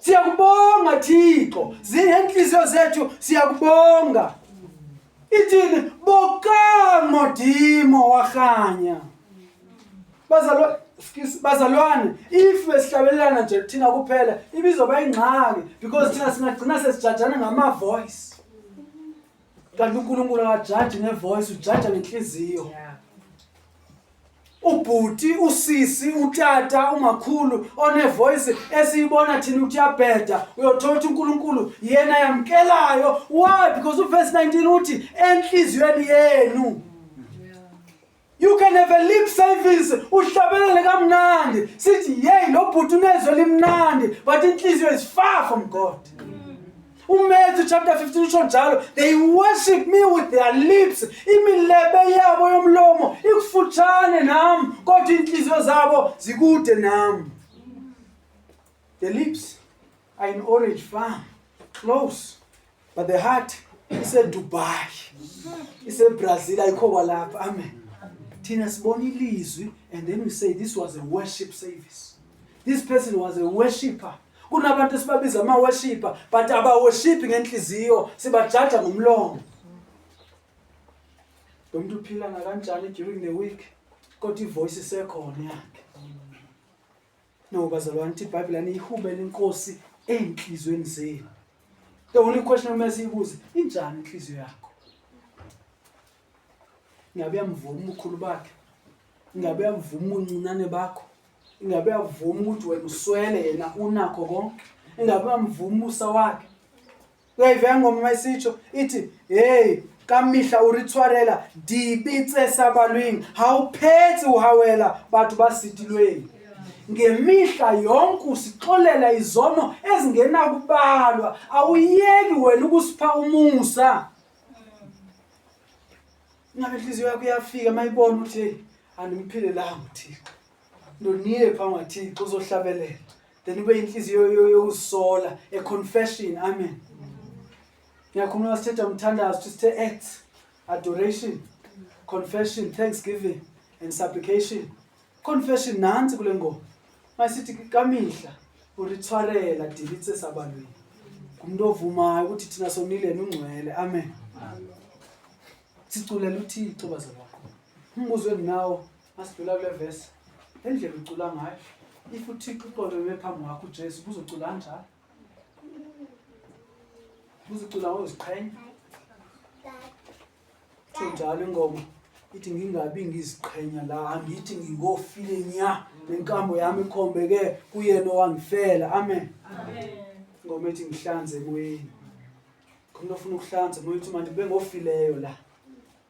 Speaker 1: Siyakubonga Thixo, zingenhliziyo zethu siyakubonga. Ithini bokamo dimo wakhanya. Bazalwa excuse bazalwane if besihlabelana nje thina kuphela ibizoba ingxaki because thina singagcina sesijajana ngama voice. Kanti uNkulunkulu akajaji nge voice, ujaja ngenhliziyo. Yeah. ubhuti usisi utata umakhulu onevoice esiyibona thina ukuthi yabheda uyothola ukuthi unkulunkulu yena yamkelayo why because uverse 19 uthi enhliziyweni yenu you can have a lip service uhlabelele kamnandi sithi yeyi lo bhuti unezwe limnandi but inhliziyo is far from god umatthew chapter 15 usho njalo they worship me with their lips imilebe yabo yomlomo ikufutshane nami kodwa iinhliziyo zabo zikude nami the lips are in orange farm close but the heart isedubai isebrazil ayikho kwalapha amen thina sibona ilizwi and then we say this was a worship service this person was a worshipper kunabantu esibabiza ama-worshiper but abawoshiphi ngenhliziyo sibajaja ngomlomo lo muntu uphila nakanjani during the week kodwa ivoice isekhona yakhe no bazalwane ukuthi ibhayibhile aniyihubele inkosi ey'nhliziyweni zenu the only question okumele siyibuze injani inhliziyo yakho ingabe uyamvuma ubukhulu bakhe ingabe uyamvuma ubuncinane bakho ingabe uyavuma ukuthi wena uswele yena unakho konke ingabe uyamvuma umusa wakhe uyayiveka ngoma uma isitsho ithi heyi kamihla uritshwarela dipitse sabalwing hawuphetsi uhawela batho ba sitilweng ngemihla yonke usixolela izono ezingenakubalwa awuyeki wena ukusipha umusa Ngabe inhliziyo yakho iyafika mayibona ukuthi andiphile la uThixo. Ndoniye pha ngaThixo uzohlabelela. Then ube inhliziyo yokusola a confession. Amen. Ngiyakhuluma sithetha umthandazo sithe acts adoration confession thanksgiving and supplication Confession nansi kule ngoma. Masithi kamihla uritshwarela dilitse sabalweni. Umuntu ovumayo ukuthi thina sonile nungcwele. Amen. Siculela uThixo bazalwane. Umbuzo enginawo masidlula kule verse. Endlela ucula ngayo. If uThixo uqobe bephambi kwakho uJesu uzocula kanjani? Uzocula ngoziqhenya. Kusho njalo ingoma ithi ngingabi ngiziqhenya la angithi ngingofile nya nenkambo yami ikhombeke kuyena owangifela amen
Speaker 2: ingoma ethi
Speaker 1: ngihlanze emoyeni khona ofuna ukuhlanza moya uthi manje bengofileyo la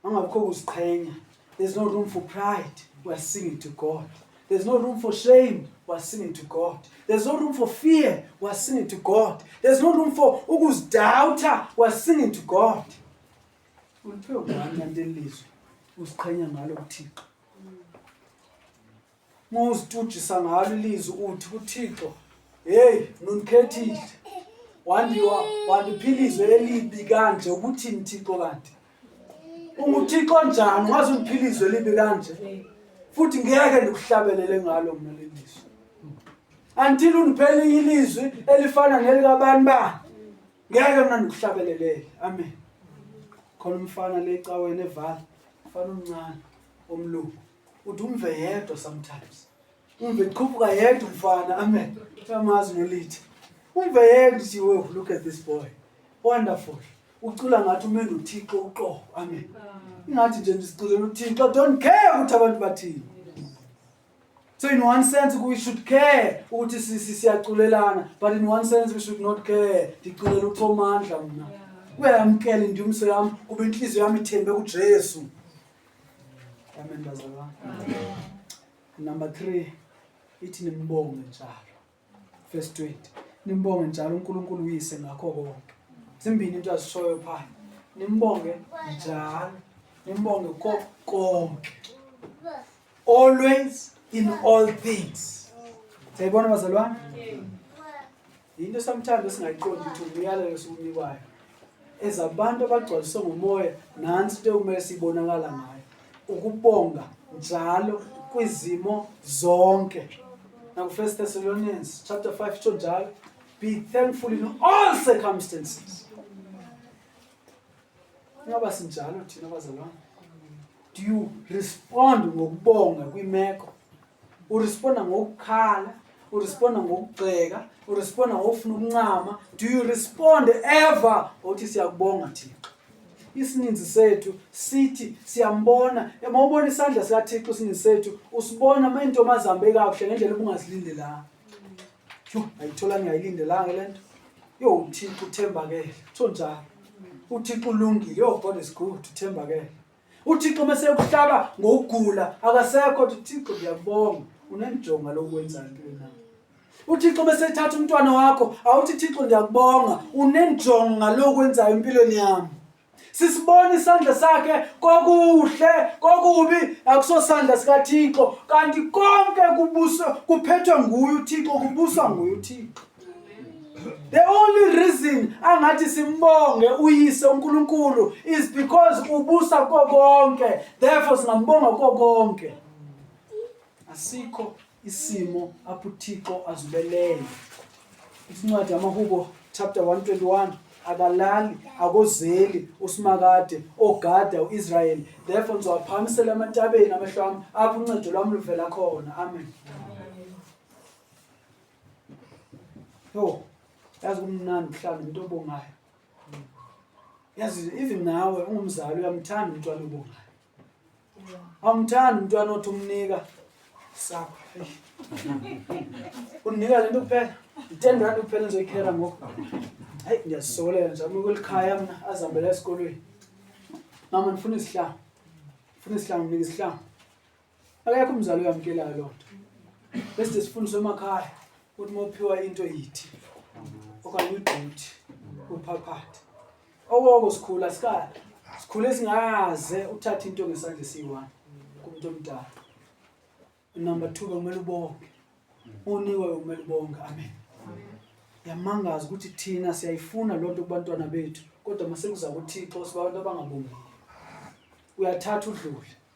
Speaker 1: angabikho kuziqhenya there's no room for pride we are singing to god There's no room for shame. We're singing to God. There's no room for fear. We're singing to God. There's no room for ukuzidoubter. We're singing to God. Uliphiwe ngani kanti elizwe usiqhenya ngalo kuThixo. Muzitujisa ngalo ilizwe uthi kuThixo, "Hey, nunikhethile. Wandiwa wandiphilizwe elibi kanje ukuthi nithixo kanti. Unguthixo njani wazi undiphilizwe elibi kanje? Futhi ngeke ndikuhlabelele ngalo mina lelizwe. Until uniphele ilizwi elifana nelikabantu ba ngeke mna ndikuhlabelelele amen khona umfana le caweni evala mfana omncane omlungu uthi umve yedwa sometimes umve qhuphuka yedwa umfana amen uyamazi nolithi umve yedwa uthi wo look at this boy wonderful ucula ngathi umenda uthixo uqobo amen ingathi nje ndisiculela uthixo don't care ukuthi abantu bathini So in one sense we should care ukuthi siyaculelana but in one sense we should not care ndiculela uThomandla mina kuyamkela indumso yami kuba inhliziyo yami ithembe kuJesu amen bazalwane number 3 ithi nimbonge njalo verse 20 nimbonge njalo uNkulunkulu uyise ngakho konke zimbini into azishoyo phaa nimbonge njalo nimbonge ko konke always in all things siyayibona bazalwane yinto sometimes esingayiqondi ukuthi umyalelo esiwunikwayo ezabantu abagcwaliswe ngumoya nansi into ekumele siyibonakala ngayo ukubonga njalo kwizimo zonke nakufirst thessalonians chapter 5 itsho njalo be thankful in all circumstances ingaba sinjalo thina bazalwane do you respond ngokubonga kwimeko uresponda ngokukhala uresponda ngokugxeka uresponda ngokufuna ukuncama do you respond ever uthi siyakubonga thixo isininzi sethu sithi siyambona uma ubona isandla sikathixo isininzi sethu usibona uma intomo azihambe kakuhle ngendlela obungazilindelanga yho ayithola ngiyayilindelanga le nto yho uthixo uthembakele kutho njalo uthixo ulungile yho god is good uthembakele uthixo uma sekuhlaba ngokugula akasekho kodwa uthixo ngiyakubonga unenjonga lokwenza ntoni na uthixo uma sethatha umntwana wakho awuthi thixo ngiyakubonga unenjonga lokwenzayo empilweni yami sisibona isandla sakhe kokuhle kokubi akusosandla sikathixo kanti konke kubuso kuphethwe nguye uthixo kubuswa nguye uthixo The only reason angathi simbonge uyise uNkulunkulu is because ubusa kokonke. Therefore singambonga kokonke. Asikho isimo apho uThixo azibelele. Isincwadi yamaHubo chapter 121 akalali akozeli usimakade ogada uIsrael therefore ngizowaphakamisela amantabeni amehlo ami apho uncedo lwami luvela khona amen, amen. Yo, yazi kumnandi ukuhlala into obongayo. Yazi even nawe ungumzali uyamthanda umntwana obongayo. Awumthanda umntwana othi umnika sakho. Unika lento kuphela. 10 rand kuphela ngizoyikhela ngoku. Hayi ngiyazisolela nje uma kulikhaya mina azihambele esikolweni. Mama ndifuna izihlanga. Ndifuna izihlanga, nginika izihlanga. akekho umzali oyamukelayo loo nto bese sifundiswe emakhaya ukuthi uma uphiwa into yithi okanye uyiduthi uphaphathe okoko sikhula sikala sikhule singaze uthathe into ngesandla esiyi-one kumuntu omdala number two bekumele ubonge unikwe bekumele ubonge amen yamangazi ukuthi thina siyayifuna loo nto kubantwana bethu kodwa masekuza kuthixo sibabantu abangabongi uyathatha udlule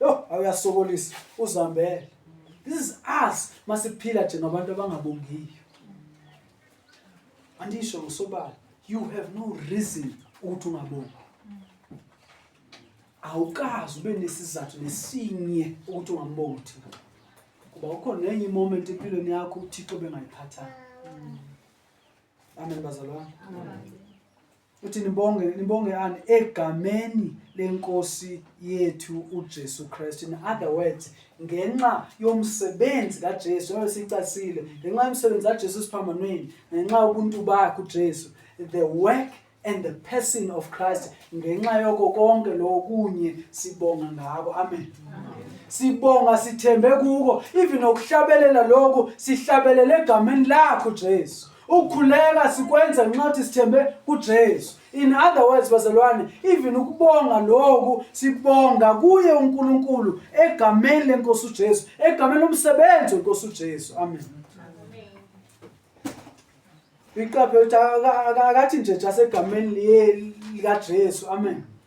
Speaker 1: Yo, awuyasokolisa uzambele. This is us masiphila nje ngabantu abangabongiyo. Andisho usobala, you have no reason ukuthi ungabongi. Awukazi ube nesizathu nesinye ukuthi ungambongi uThixo. Kuba ukhona nenye moment empilweni yakho uThixo bengayiphathanga. Amen bazalwane. Amen. uthi nibonge nibongeani egameni lenkosi yethu uJesu Kristu in other words ngenxa yomsebenzi kaJesu njengoba sicasile ngenxa yomsebenzi kaJesu siphambanweni ngenxa ubuntu bakhe uJesu the work and the person of Christ ngenxa yoko konke lokunye sibonga ngako amen, amen. sibonga sithembe kuko even okuhlabelela lokho sihlabelele egameni lakho Jesu Ukukhuleka sikwenza nxathi sithembe kuJesu. In other words bazalwane, even ukubonga lokhu sibonga kuye uNkulunkulu egameni lenkosi uJesu, egameni lomsebenzi wenkosi uJesu. Amen. Iqaphe ukuthi akathi nje just egameni likaJesu. Amen.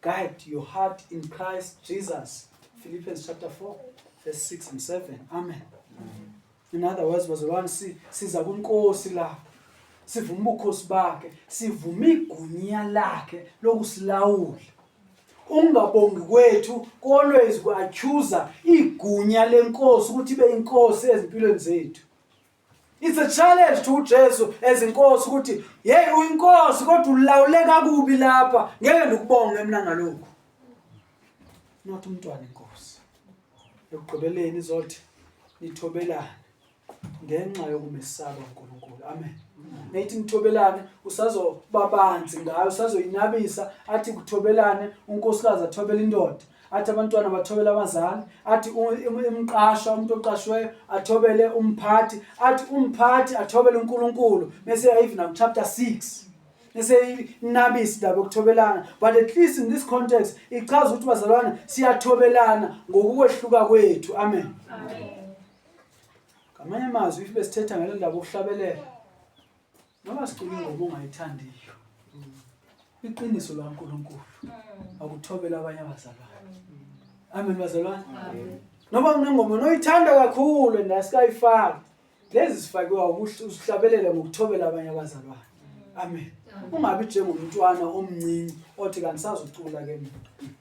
Speaker 1: Guide your heart in Christ Jesus. Philippians chapter 4 verse 6 and 7. Amen. In other words, bazalwane si, siza kuNkosi la. Sivuma ubukhosi bakhe, sivuma igunya lakhe lokusilawula. Ungabongi kwethu always ku-accuser igunya lenkosi ukuthi ibe inkosi ezimpilweni zethu. It's a challenge to uJesu as inkosi ukuthi hey uyinkosi kodwa ulawule kakubi lapha ngeke ndikubonge mina ngalokho. Not umntwana inkosi. Ekugqibeleni izothi nithobelane ngenxa yokumesaba uNkulunkulu. Amen. Nathi nithobelane usazobabanzi ngayo usazoyinabisa athi kuthobelane unkosikazi athobela indoda athi abantwana bathobele abazali athi umqashwa umuntu oqashweyo athobele umphathi athi umphathi athobele uNkulunkulu bese even up chapter 6 eseyinabisi ndaba yokuthobelana but at least in this context ichaza ukuthi bazalwana siyathobelana ngokukwehluka kwethu amen ngamanye amazwi if besithetha ngale ndaba okuhlabelela Noma sikhuluma ngoba ungayithandiyo. Iqiniso lwaNkulunkulu akuthobela abanye abazalwane. Amen bazalwane. Noma unengoma noyithanda kakhulu and asikayifaki. Lezi sifakiwa ukuthi usihlabelele ngokuthobela abanye abazalwane. Amen. Ungabi njengomntwana omncinci othi kangisazucula ke mina.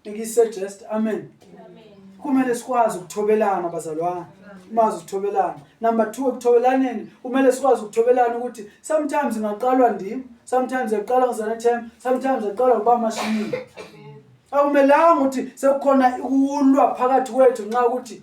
Speaker 1: ngikise just amen kumele sikwazi ukuthobelana bazalwane umazi ukuthobelana number 2 ekuthobelaneni kumele sikwazi ukuthobelana ukuthi sometimes ngaqalwa ndim sometimes yaqalwa ngizana time sometimes yaqalwa uba mashini akumelanga ukuthi sekukhona ukulwa phakathi kwethu nxa ukuthi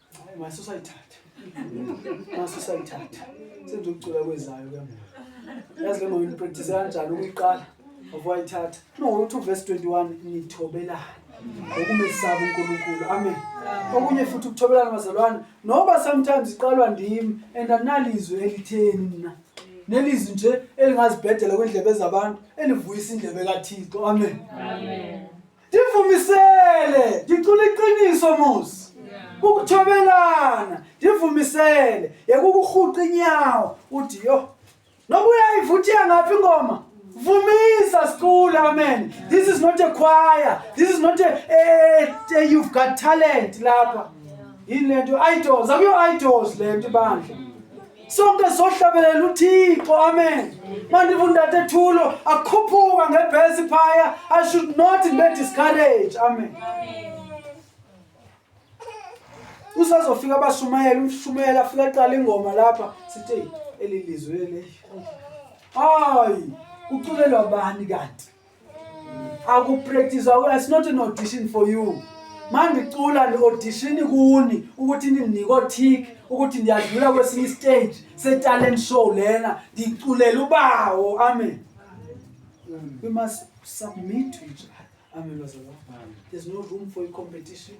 Speaker 1: Hayi mase usayithatha. Mase usayithatha. Senze ukucula kwezayo ke manje. Yazi ke manje practice kanjani ukuyiqala? Uvayithatha. No, uthi verse 21 nithobelana. Ukumesaba uNkulunkulu. Amen. Okunye futhi ukuthobelana bazalwane. Noba sometimes iqalwa ndimi and analizwe elitheni mina. Nelizwi nje elingazibhedela kwendlebe zabantu elivuyisa indlebe kaThixo. Amen. Amen. ndivumisele ndicula iqiniso musi ukuthobelana ndivumisele yekukurhuqa inyawo uthi yo noba uyayivuthiya ngaphi ingoma vumisa sicula amen this is not a choir this is not a, a, a you've got talent lapha yini le nto idols akuyo idols le nto ibandla sonke sohlabelela uthixo amen mandiva undate thulo akhuphuka ngebhesi phaya i should not be discourage amen usazofika abashumayela umshumayela afika aqala ingoma lapha sithi elilizwe le hayi kuculelwa bani kanti akupractice it's not an audition for you mandicula ndiaudition kuni ukuthi nindinika otik ukuthi ndiyadlula kwesinye istage setalent show lena ndiculela ubawo amen we must submit to each other amen bazalwa there's no room for competition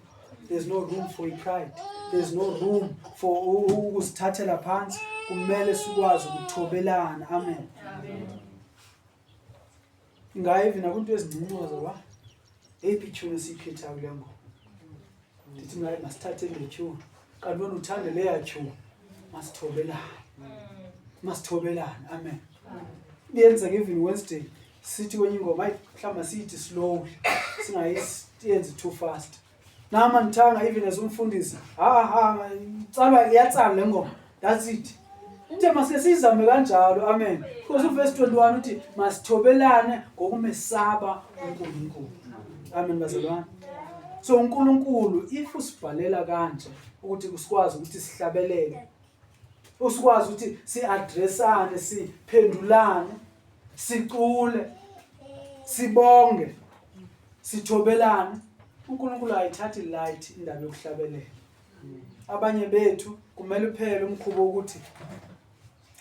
Speaker 1: there's no room for pride there's no room for ukusithathela phansi kumele sikwazi ukuthobelana amen, amen. Ngayivi nakunto ezincincoza wa. Eyiphi itune esiyikhethayo kule ngoma? Ndithi mna masithathe le tune. Kanti wena uthande leya tune. Masithobelane. Masithobelane. Amen. Kuyenzeka even Wednesday sithi kwenye ingoma ayi mhlawumbe siyithi slowly singayenzi too fast. Nama ngithanga even as umfundisi. Ha ha tsalwa iyatsala le ngoma. That's it. Nje masike sizame kanjalo. Amen. Because uverse 21 uthi masithobelane ngokumesaba uNkulunkulu. Amen bazalwane. So uNkulunkulu if usibhalela kanje ukuthi kusikwazi ukuthi sihlabelele usikwazi ukuthi si-addressane siphendulane sicule sibonge sithobelane uNkulunkulu ayithathi light indaba yokuhlabelela abanye bethu kumele uphele umkhubo ukuthi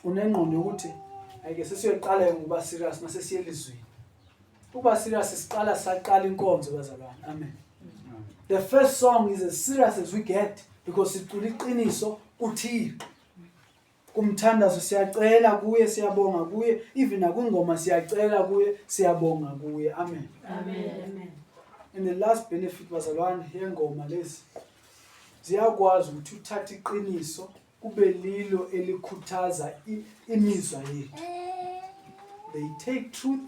Speaker 1: unengqondo yokuthi ayike sesiyoqala ngoba serious mase siyelizweni Uba serious siqala saqala inkonzo bazalwane. Amen. The first song is as serious as we get because sicula iqiniso kuThixo. Kumthandazo siyacela kuye siyabonga kuye even nakwingoma siyacela kuye siyabonga kuye. Amen. Amen.
Speaker 2: And the
Speaker 1: last benefit bazalwane yengoma lezi ziyakwazi ukuthi uthathe iqiniso kube lilo elikhuthaza imizwa yethu they take truth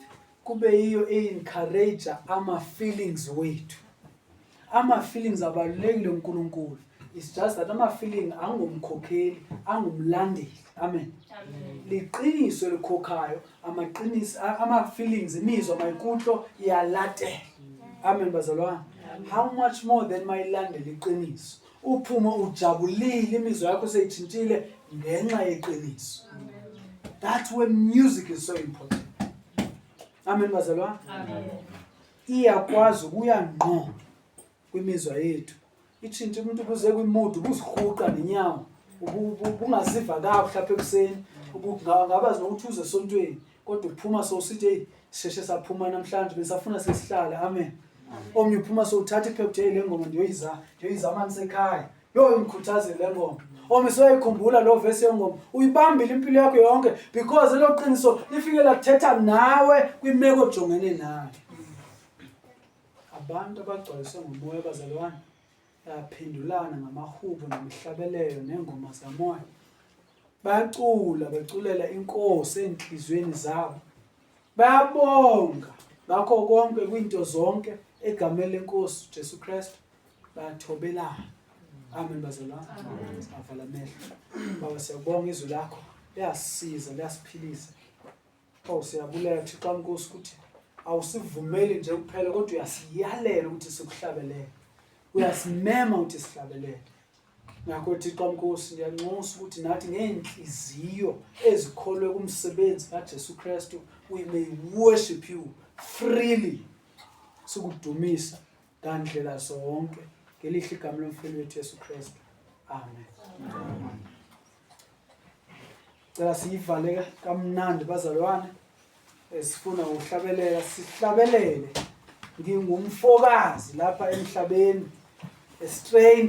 Speaker 1: kube yiyo e-encourage ama-feelings wethu ama-feelings abalulekile unkulunkulu is just that ama-feeling angumkhokheli angumlandeli amen liqiniso elikhokhayo amaqiniso ama-feelings imizwa mayikutlo iyalatela amen bazalwane how much more than mayilandela iqiniso Uphume ujabulile, imizwa yakho seyithintile ngenxa yeqiniso. That's where music is so important. Amen bazalwane. Amen.
Speaker 2: Iyakwazi
Speaker 1: ukuya ngqo kwimizwa yethu. Ithinta umuntu kuze kwimudu kuzihuqa nenyawo. Ubungaziva kahle lapha ekuseni. Ubungabazi nokuthi uze esontweni. kodwa uphuma sowusithi heyi sisheshe saphuma namhlanje besafuna sesihlale amen omnye uphuma sowuthatha iphepha ukuthi heyi le ngoma ndiyoyiza ndiyoyiza amanzi ekhaya yoyo ngikhuthaze le ngoma omnye soyayikhumbula loo vesi yengoma uyibambile impilo yakho yonke because elo qiniso lifike lathetha nawe kwimeko ojongene nayo abantu abagcwaliswe ngumoya bazalwane Yaphendulana ngamahubo nemihlabelelo nengoma zamoya. Bacula beculela inkosi enhlizweni zabo. Bayabonga ngakho konke kwinto zonke egameni lenkosi Jesu Kristu bathobelana. Amen bazalwane. Avala amehlo. Baba siyabonga izwi lakho. Liyasiza, liyasiphilisa. Oh siyabulela Thixo amkosi ukuthi awusivumeli nje kuphela kodwa uyasiyalela ukuthi sikuhlabelele. Uyasimema ukuthi sihlabelele. Ngakho Thixo amkosi ngiyanxusa ukuthi nathi ngeenhliziyo ezikholwe kumsebenzi kaJesu Kristu we may worship you freely. Sikudumisa ngandlela zonke ngelihle igama lomfowethu Jesu Kristu. Amen. Amen. cela siyivale kamnandi bazalwane eh, sifuna ukuhlabelela sihlabelele ngingumfokazi lapha emhlabeni a stranger